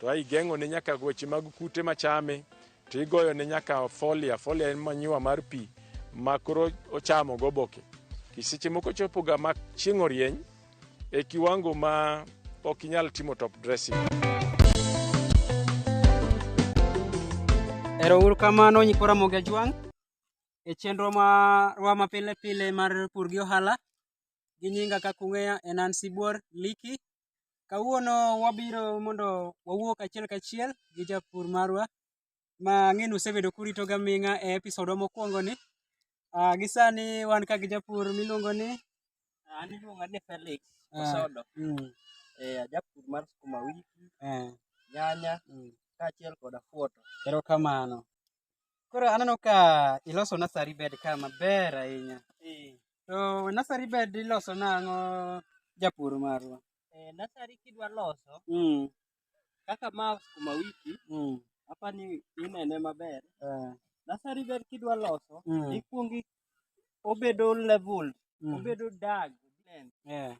To a igeng'one nyaka weche mag kute machame, to igoyone nyaka folia. Folia en manyiwa mar pi ma koro ochamo goboke. Kiseche moko chopoga ma chieng' orieny e kiwango ma ok inyal timo top dressing. Ero uru kamano nyikora moge jwang' e chenro marwa ma pile pile mar pur gi ohala gi nyinga kaka ung'eya en an sibuor liki Kawuono wabiro mondo wawuo kachiel kachiel gi japur marwa ma ang'e ni usebedo kurito gaming'a e episode wa mokwongo ni. Uh, gi sani wan ka gi japur miluongo ni Ah, An iluonga ni Felix Ah. Osodo. mm, Eh, ajapur mar sukuma wiki, eh, nyanya mm. kaachiel kod afuoto. Erokamano. Koro aneno ka iloso nursery bed ka maber ahinya. Eh. To nursery bed iloso nang'o japur marwa? Eh, nursery kidwa loso mm. kaka ma sukuma wiki mm. apa ni inene maber. Eh. Nursery bed kidwa loso mm. ikwongi obedo level mm. obedo dag. Yeah.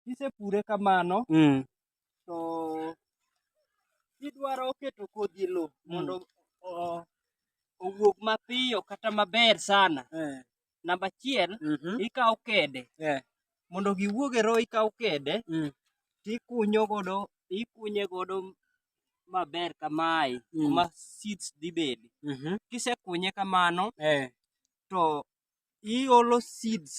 kisepure kamano mm. to idwaro keto kodhi e lowo mm. mondo mm. owuog mapiyo kata maber sana eh. namba achiel mm -hmm. ikawo kede eh. mondo giwuog e roho ikawo kede mm. tikunyo godo ikunye godo maber kamae mm. kuma seeds dhi bedi mm -hmm. kisekunye kamano eh. to iolo seeds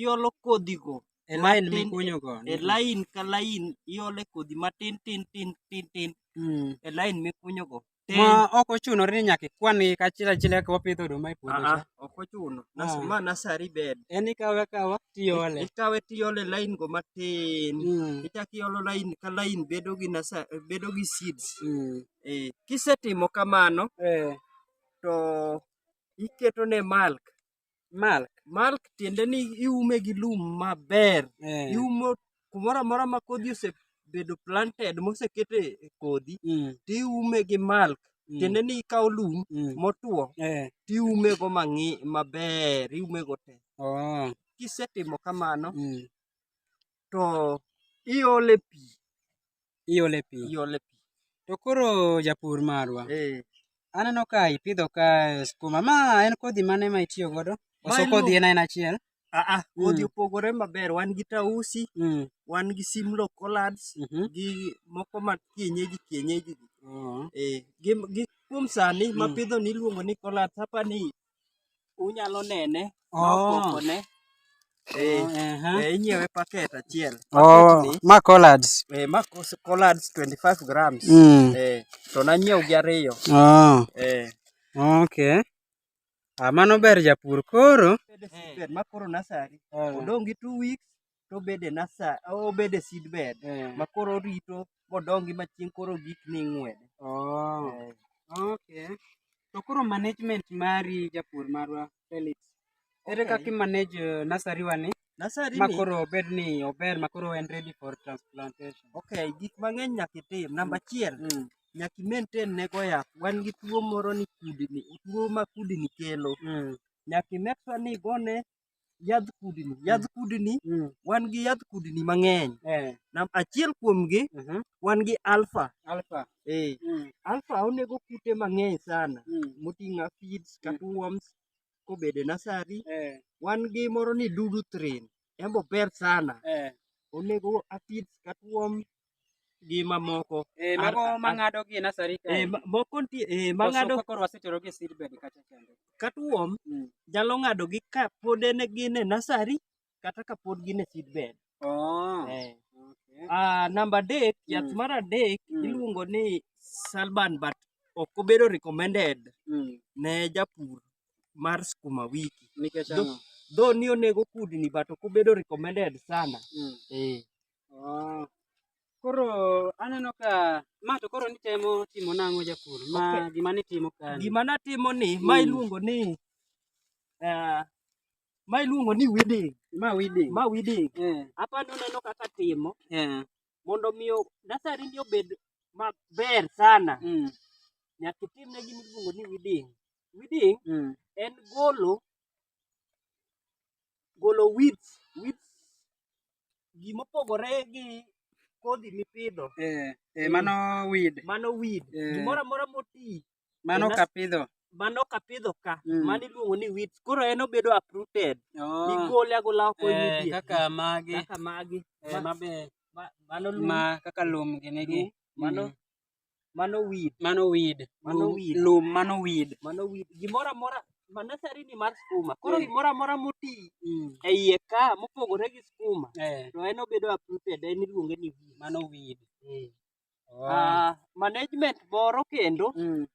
iolo kodhigo e lain mikunyogo e lain ka lain iole kodhi matin tin tin tin tin hmm. e lain mikunyogo ma ok ochuno ni nyaka ikwan gi kachiel achiel kaka wapidho oduma e puodho ah, ah, ok ochuno ah. ma nasari bed en ikawe akawa tiole ikawe tiole lain go matin hmm. ichako iolo lain ka lain bedo gi nasari bedo gi seeds hmm. eh, kisetimo kamano eh. to iketo ne malk malk malk tiende ni iume gi lum maber eh. iumo kumoro amora ma kodhi osebedo planted mosekete e kodhi mm. to iume gi malk mm. tiende ni ikawo lum mm. motwo eh. to iume go mang'i maber iume go te oh. kisetimo kamano mm. to iole pi. Iole pi. Iole pi. To koro japur marwa. Eh. Aneno ka ipidho ka skuma. Ma en kodhi mane ma itiyo godo? Koso kodhi en aina achiel? Aa, ah, ah, mm. kodhi opogore maber. Wan gi tausi, mm. wan gi simlo collards, mm -hmm. gi moko ma kienyeji kienyeji. Uh oh. -huh. Eh, gi, gi kuom sani mm. mapidho ni iluongo ni collards. Hapa ni unyalo nene Oh. nokokone Eh, Aha. eh, inyiewe paket achiel Oh, Paket ma collards. ni, eh, ma kos- collards 25 grams Mm. eh, to nanyiew gi ariyo Oh, eh, okay. Ah, mano ber japur koro. bed seedbed ma koro nasari odong' gi two weeks to obed e nasa obed e seedbed Eh. ma koro orito modongi ma chieng' koro gik ni ing'wede Oh. Eh, Okay. To koro management mari japur marwa Felix. Ere Okay. kaka i manage eh, nursery wa ni nasari ma ni koro obed ni ober ma koro en ready for transplantation? okay gik mang'eny nyaka itim namba achiel Mm. nyaka i maintain ne go yath wan gi tuo moro ni kudni tuo ma kudni kelo Mm. nyaka i make sure ni igone yadh kudni yadh kudni mm. wan gi yadh kudni mang'eny eh. nam achiel kuomgi uh mhm. -huh. wan gi alfa alfa eh. mm. alfa onego kute mang'eny sana mm. moting'o aphids mm. kata worms kobede nasari eh. wan gi moro ni dudu train embo ber sana eh. onego aphids kata worm gi mamoko eh mago mangado gi nasari ka eh moko nitie eh mangado ka koro wasetero gi seed bed kacha chande katuom mm. jalo ngado gi ka pod en gi ne nasari kata ka pod gi ne seed bed oh eh okay. ah number dek mm. yath mar adek mm. iluongo ni salban but ok obedo recommended mm. ne japur mar skuma wiki nikech though ni onego kudni but ok obedo recommended sana mm. eh Oh. Koro aneno ka ma to koro nitemo timo nang'o japur ma okay. gima nitimo ka gima natimo ni mm. ma hmm. iluongo ni uh, ma iluongo ni weeding ma weeding ma weeding yeah. apa noneno kaka timo yeah. mondo miyo nasari ni obed maber sana mm. nyaka itimne gima iluongo ni weeding weeding mm. en golo golo weeds weeds gima opogore gi kodhi mipidho eh, eh, mano weed mano weed eh. gimoro amora moti mano kapidho mano kapidho ka mm. mano iluongo ni weeds koro en obedo uprooted oh. igole agola oko eh, kaka magi kaka magi eh, mabe mano lum ma kaka lum gini gi mano mm. Mano weed. Mano weed. Mano Lum- weed. Lum mano weed. Mano weed. Gimoro amora ma nasari ni mar skuma. Koro Mm. gimoro amora moti Mm. e iye ka mopogore gi skuma Eh, to en obedo uprooted en iluonge ni weed. mano weed. Eh. Oh. Ah, management moro kendo Mm.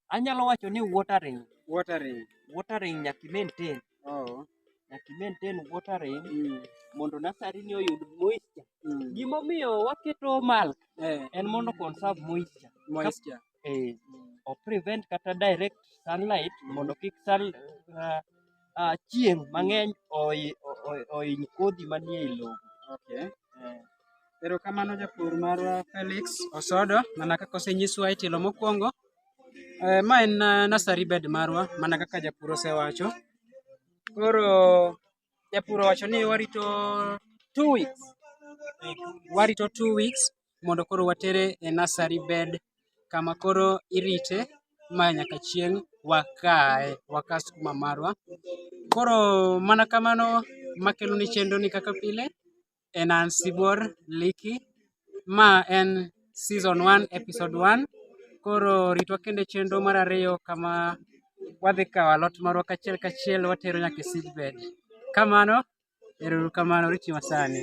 Anyalo wacho ni watering. Watering. Watering nyaka maintain. Oh. Nyaka maintain watering mm. mondo nasari ni oyud moisture. Mm. Gima omiyo waketo mulch eh. en mondo conserve moisture. Moisture. Eh. Mm. O prevent kata direct sunlight mm. mondo kik sun uh, uh, chieng' mang'eny oiny kodhi manie lowo. Okay. Eh. Erokamano japur mar Felix Osodo, mana kaka osenyiswa e tielo mokwongo. Eh, ma en eh, nursery bed marwa mana kaka japur osewacho. Koro japur owacho ni warito two weeks. Warito two weeks mondo koro watere e nursery bed kama koro irite ma nyaka chieng' wakae, waka skuma marwa. Koro mana kamano makeloni chenroni kaka pile. en an Sibuor Liki. Ma en season 1 episode 1. Koro ritwa kende chenro mar ariyo kama wadhi kawo alot marwa kachiel kachiel watero nyaka e seedbed. Kamano, erouru kamano, riti masani.